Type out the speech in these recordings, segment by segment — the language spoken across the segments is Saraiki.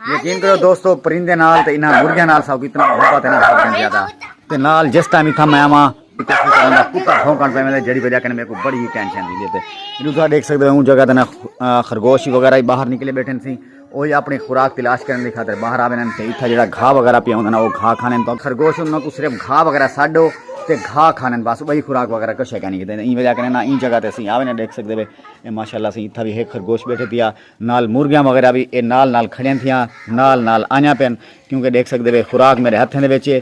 یقین کرو دوستو پرندے نال تے انہاں مرغیاں نال ساکو اتنا محبت ہے نا سب کن زیادہ تے نال جس ٹائم اتھا میں آواں تے اس طرح دا کتا بھونکن پے میں جڑی وجہ کنے میرے کو بڑی ٹینشن دی تے جدوں تساں دیکھ سکدے ہو اون جگہ تے نا خرگوش وغیرہ ہی باہر نکلے بیٹھن سی وہی اپنی خوراک تلاش کرنے کی خاطر باہر آوے تے اتھا جڑا گھا وغیرہ پیا ہوندا نا وہ گھا کھانے تو خرگوش انہاں کو صرف گھا وغیرہ ساڈو تے گھا کھانے بس وہی خوراک وغیرہ کچھ ہے نہیں کیتے این وجہ کنے نا این جگہ تے سی آوے نا دیکھ سکدے وے ماشاءاللہ سی اتھا بھی ہے خرگوش بیٹھے دیا نال مرغیاں وغیرہ وی اے نال نال کھڑیاں تھیاں نال نال آئیاں پن کیونکہ ڈیکھ سکدے وے خوراک میرے ہتھیں دے وچ اے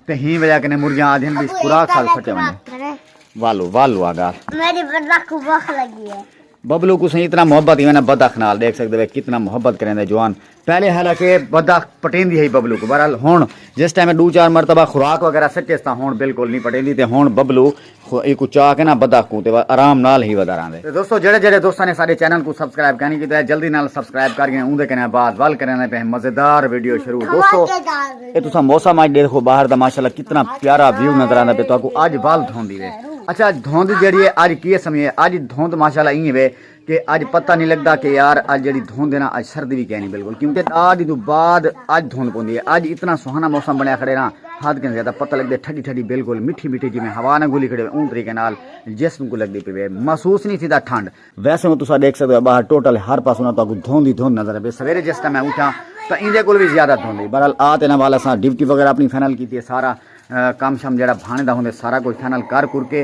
تے ہی وجہ کنے مرغیاں آدھین بھی خوراک سال پھٹے ونجے والو والو آگار میری بدخ کو بخ لگی ہے ببلو کو سن اتنا محبت ہی نا بدخ نال دیکھ سکدے وے کتنا محبت کریں دے جوان پہلے حالانکہ بدخ پٹین دی ہے ببلو کو بہرحال ہون جس ٹائم دو چار مرتبہ خوراک وغیرہ سچے ستا ہون بالکل نہیں پٹین دی تے ہون ببلو خدا ایکوں چا کے نا بدخ کوں تے وا آرام نال ہی ودا راہندے۔ تے دوستو جیڑھے جیڑھے دوستاں نے ساڈے چینل کوں سبسکرائب کائنی کیتا ہے جلدی نال سبسکرائب کر گھن اوندے کنے بعد ول کریندے پئے ہیں مزیدار ویڈیو شروع دوستو اے تساں موسم اج ڈیکھو باہر دا ماشاءاللہ کتنا پیارا ویو نظر آندا پئے تہاکوں اج ول دھوندی وے اچھا دھوند جیڑھی ہے اج کیے سمجھے اج دھوند ماشاءاللہ ایں وے کہ اج پتہ نہیں لگدا کہ یار اج جڑی دھوند ہے نا اج سردی بھی کہنی بالکل کیونکہ دا دی تو بعد اج دھوند پوندی ہے اج اتنا سہانا موسم بنیا کھڑے نا حد کہیں زیادہ پتہ لگدے ٹھڈی ٹھڈی بالکل مٹھی مٹھی جویں ہوا نہ گھلی کھڑے اون طریقے نال جسم کو لگدی پی محسوس نہیں تھیدا ٹھنڈ ویسے ہوں تسا دیکھ سکدے ہو باہر ٹوٹل ہر پاسوں نہ تاکو دھوند ہی دھوند نظر پے سویرے جس ٹائم میں اٹھا تو ایندے کول بھی زیادہ دھوند ہے بہرحال آ تے نال اساں ڈیوٹی وغیرہ اپنی فائنل کیتی ہے سارا کام شام جڑا بھانے دا ہوندے سارا کچھ فائنل کر کر کے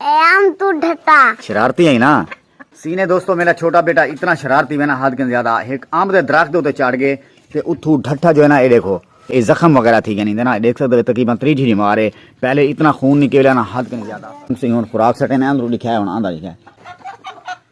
ایام توں ڈھٹا۔ شرارتی ہئی نا سینے دوستو میڈا چھوٹا بیٹا اتنا شرارتی وینا حد کن زیادہ ہک امب دے درخت دے اتے چڑھ گئے تے اتھو ڈھٹا جو ہے نا اے ڈیکھو اے زخم وغیرہ تھی گئے نیں نا ڈیکھ سکدے وے تقریبا تری جھیری مار اے پہلے اتنا خون نکیلیا نا حد کن زیادہ۔ تسی ہن خوراک سٹے نا اندرو ڈکھیا اے ہن آندا ڈکھیا اے۔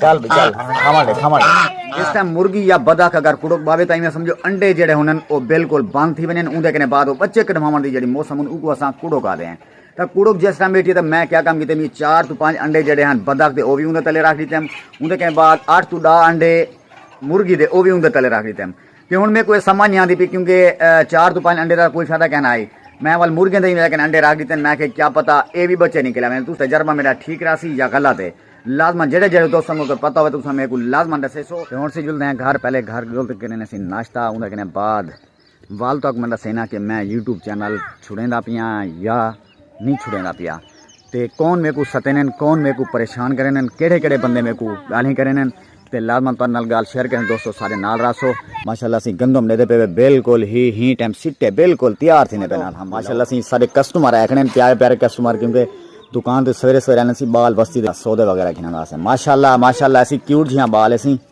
چل بھی چل کھاواں دے کھاواں دے اس ٹائم مرغی یا بدک اگر کڑک باوے تاں میں سمجھو انڈے جڑے ہنن او بالکل بند تھی ونن اوندے کنے بعد او بچے کڈواون دی جڑی موسم ہن اوکو اساں کڑک آدے ہیں تا کڑک جس ٹائم بیٹھی تے میں کیا کام کیتے میں چار تو پانچ انڈے جڑے ہن بدک دے او وی اوندے تلے رکھ دیتے ہیں اوندے کنے بعد اٹھ تو ڈا انڈے مرغی دے او وی اوندے تلے رکھ دیتے ہیں تے ہن میکوں ایہ سمجھ نی آندی پی کیونکہ چار توں پنج انڈے دا کوئی فائدہ کائنا ہئی۔ میں ول مرغیں دے ہی لیکن انڈے رکھ ڈتے ہن۔ میں آکھیا کیا پتہ ایہ وی بچے نکل آون۔ تس تجربہ میڈا ٹھیک راہسی یا غلط ہے۔ لازما جیڑھے جیڑھے دوستاں کوں اگر پتہ ہووے تساں میکوں لازما ڈسیسو۔ تے ہن اسی جلدے ہیں گھر پہلے گھر جل تے کرنے سے ناشتہ اوندے کنے بعد ول تک میں ڈسینا کہ میں یوٹیوب چینل چھڑیندا پیاں یا۔ نی چھڑیندا پیا تے کون میکوں ستینن کون میکوں پریشان کرینن کیڑھے کیڑھے بندے میکوں گالھیں کرینن تے لازمن تہاڈے نال گال شیئر کریں دوستو سارے نال راسو ماشاءاللہ اسی گندم ڈیدے پے وے بالکل ہی ہی ٹائم سٹے بالکل تیار تھینے پے نال ماشاءاللہ اسی سارے کسٹمر آکھنے پیارے پیارے کسٹمر کیونکہ دکان تے سویرے سویرے اسی بال بستی دے سودے وغیرہ گھنن واسطے ماشاءاللہ ماشاءاللہ اسی کیوٹ جیاں بال اسی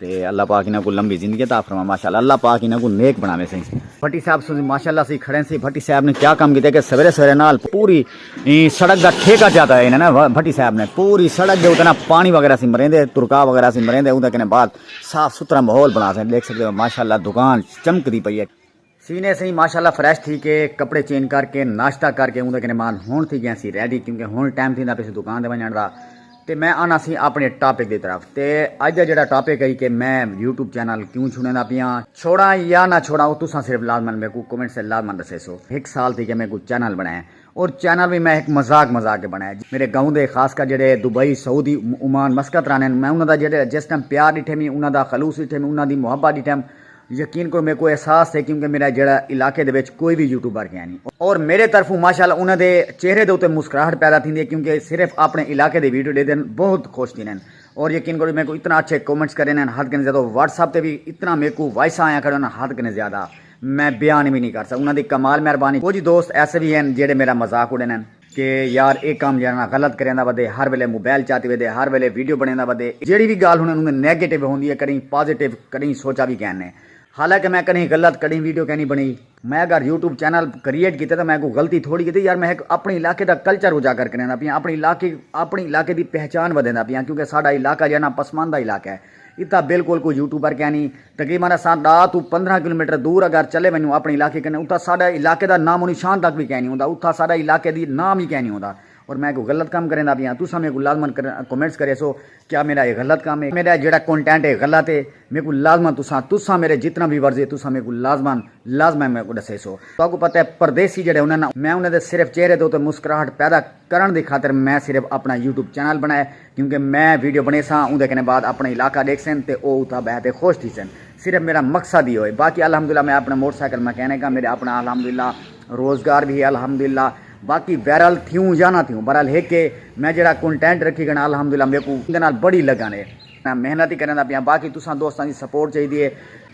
تے اللہ پاک انہاں کوں لمبی زندگی عطا فرمائے ماشاءاللہ اللہ پاک انہاں کوں نیک بناوے سائیں بھٹی صاحب سن ماشاءاللہ سی کھڑے سی بھٹی صاحب نے کیا کام کیتے کہ سویرے سویرے نال پوری سڑک دا ٹھیکہ جاتا ہے انہاں نے بھٹی صاحب نے پوری سڑک دے اوتے نا پانی وغیرہ سی مریندے ترکا وغیرہ سی مریندے اون دے کنے بعد صاف ستھرا ماحول بنا سائیں دیکھ سکدے ہو ماشاءاللہ دکان چمکدی پئی ہے سینے سئیں ماشاء اللہ فریش تھی کے کپڑے چینج کر کے ناشتہ کر کے اوندے کنے مان ہن تھی گیاں سی ریڈی کیونکہ ہن ٹائم تھیندا پیا سی دکان تے ونجنڑ دا تے میں آنا سی اپنے ٹاپک دی طرف تے اج دا جیڑا ٹاپک ہئی کہ میں یوٹیوب چینل کیوں چھوڑیندا پیاں چھوڑاں یا نہ چھوڑاں او تساں صرف لازمن میکوں کومنٹس تے لازمن دسیسو ہک سال تھی گیا میکوں چینل بنڑائیں او چینل وی میں ہک مذاق مذاق تے بݨایا۔ میݙے گاؤں دے خاص کر جیڑھے دبئی، سعودی، عمان، مسقط رہندن میں انہاں دا جیڑھے جس ٹائم پیار ݙٹھے میں انہاں دا خلوص ݙٹھے میں انہاں دی محبت ݙٹھم یقین کرو میکوں احساس تھئے کیونکہ میݙا جیڑھا علاقے دے وچ کوئی وی یوٹیوبر کینی اور میݙے طرفوں ماشاءاللہ انہاں دے چہرے دے اتے مسکراہٹ پیدا تھیندی ہے کیونکہ صرف اپݨے علاقے دی ویڈیو ݙیدن بہت خوش تھیندن اور یقین کرو میکوں اتنا اچھے کمنٹس کریندن حد کنی زیادہ واٹس ایپ تے وی اتنا میکوں وائساں آیاں کریندن حد کنی زیادہ۔ میں بیان وی نی کرسا انہاں دی کمال مہربانی کجھ دوست ایسے وی ہن جیڑھے میرا مذاق اڈیندن۔ کہ یار اے کم جنہاں نال غلط کریندا ودے ہر ویلے موبائل چاتی ودے ہر ویلے ویڈیو بنیندا ودے جیڑھی وی گالھ انہاں نوں نیگیٹو ہوندی ہے کڈہیں پازیٹو کڈہیں سوچا وی کین نے حالانکہ میں کڈہیں غلط کڈہیں ویڈیو کینی بنئی میں اگر یوٹیوب چینل کریئٹ کیتے تاں میں کوئی غلطی تھوڑی کیتی یار میں ہک اپنڑے علاقے دا کلچر اجاگر کریندا پیاں اپنڑے علاقے اپنڑے علاقے دی پہچان ودھیندا پیاں کیونکہ ساڈا علاقہ جیڑھا نا پسماندہ علاقہ ہے۔ اتھاں بالکل کوئی یوٹیوبر کینی۔ تقریبا اساں ڈاہ توں پندرہ کلومیٹر دور اگر چلے ونجوں اپنڑے علاقے کنے اتھاں ساڈے علاقے دا نام و نشان تک وی کینی ہوندا اتھاں ساڈے علاقے دی نام وی کینی ہوندا اور میں کوئی غلط کم کریندا پیاں تساں میکوں لازما کمنٹس کریسو کیا میڈا اے غلط کم اے میڈا جیڑا کنٹینٹ اے غلط اے میکوں لازما تساں تساں میڈے جتنا ویورز اے تساں میکوں لازما لازما میکوں ڈسیسو۔ تہاکوں پتہ اے پردیسی جیڑے ہوندن میں انہاں دے صرف چہرے دے اتے مسکراہٹ پیدا کرنڑ دی خاطر میں صرف اپنڑا یوٹیوب چینل بنڑایا اے کیونکہ میں ویڈیو بݨیساں اوندے کنے بعد اپݨا علاقہ ݙیکھسن تے او اتھاں ٻہہ تے خوش تھیسن صرف میݙا مقصد ایہو ہے باقی الحمدللہ میں اپݨا موٹر سائیکل میکینک ہاں میݙا اپݨا الحمدللہ روزگار وی ہے الحمدللہ باقی وائرل تھیوں یا نہ تھیوں بہرحال ہک ہے میں جیڑھا کنٹینٹ رکھی کھڑاں الحمدللہ میکوں اوندے نال بڑی لگن ہے میں محنت ہی کریندا پیاں باقی تساں دوستاں دی سپورٹ چاہیدی ہے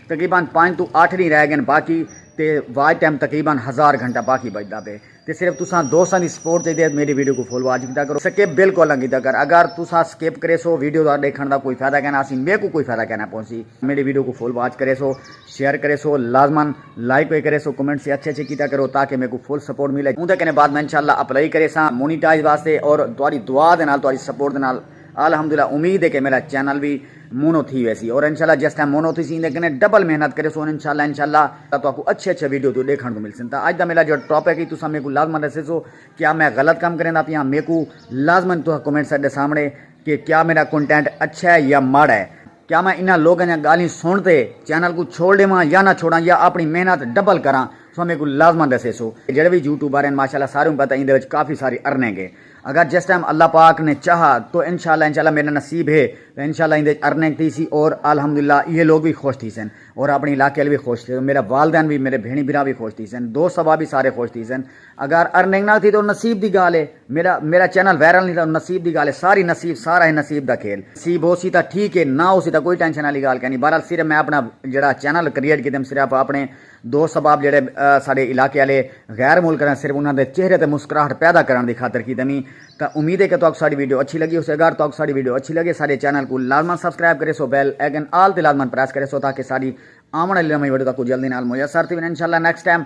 تقریبا پنج توں اٹھ ݙینھ رہ ڳئن باقی تے واچ ٹائم تقریبا ہزار گھنٹہ باقی بچدا پئے۔ تے صرف تساں دوستاں دی سپورٹ چاہیدی ہے میڈی ویڈیو کوں فل واچ کیتا کرو سکپ بالکل نہ کیتا کر اگر تساں سکپ کریسو ویڈیو دا ڈیکھن دا کوئی فائدہ کائنا اسی میکوں کوئی فائدہ کائنا پہنچسی میڈی ویڈیو کوں فل واچ کریسو شیئر کریسو لازما لائک وی کریسو کمنٹس وی اچھے اچھے کیتا کرو تاکہ میکوں فل سپورٹ ملے اوندے کنے بعد میں انشاءاللہ اپلائی کریساں مونیٹائز واسطے اور تہاڈی دعا دے نال تہاڈی سپورٹ دے نال الحمدللہ امید ہے کہ میرا چینل وی مونو تھی ویسی اور انشاءاللہ جس ٹائم مونو تھیسی ایندے کنے ڈبل محنت کریسوں اور انشاءاللہ انشاءاللہ تہاکوں اچھے اچھے ویڈیو توں ڈیکھن کوں ملسن تاں اج دا میرا جو ٹاپک ہے تساں میکوں لازما ڈسیسو کیا میں غلط کم کریندا پیاں میکوں لازما تہاں کمنٹس اچ ڈسامڑے کہ کیا میرا کنٹینٹ اچھا ہے یا ماڑا ہے کیا میں انہاں لوگاں دیاں گالھیں سن تے چینل کوں چھوڑ ڈیواں یا نہ چھوڑاں یا اپنی محنت ڈبل کراں تساں میکوں لازما ڈسیسو جیڑھے وی یوٹیوبر ہن ماشاءاللہ ساریوں کوں پتہ ایندے وچ کافی ساری ارننگ ہے اگر جس ٹائم اللہ پاک نے چاہا تو انشاءاللہ انشاءاللہ میڈا نصیب ہے تو انشاءاللہ ایندے وچ ارننگ تھیسی اور الحمدللہ ایہے لوگ وی خوش تھیسن اور اپنی علاقے آلے وی خوش تھیسن میڈا والدین وی میڈے بھینڑیں بھرا وی خوش تھیسن دوست احباب وی سارے خوش تھیسن اگر ارننگ نہ تھی تو نصیب دی گالھ ہے میڈا میڈا چینل وائرل نی تھیا نصیب دی گالھ ہے ساری نصیب سارا ہے نصیب دا کھیل نصیب ہوسی تاں ٹھیک ہے نہ ہوسی تاں کوئی ٹینشن آلی گالھ کینی بہرحال صرف میں اپنا جیڑا چینل کریئٹ کیتے صرف اپنے دو سبب جیڑھے ساڈے علاقے آلے غیر ملک آلیاں صرف انہاں دے چہرے تے مسکراہٹ پیدا کرݨ دی خاطر کیتے نی تاں امید ہے کہ تہاکوں ساڈی ویڈیو اچھی لگی ہوسی اگر تہاکوں ساڈی ویڈیو اچھی لگے ساڈے چینل کوں لازما سبسکرائب کریسو بیل آئیکن آل تے لازما پریس کریسو تاکہ ساڈی آوݨ آلی نویں ویڈیو تہاکوں جلدی نال میسر تھی ونجن انشاءاللہ نیکسٹ ٹائم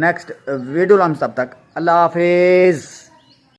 نیکسٹ ویڈیو لمس تب تک اللہ حافظ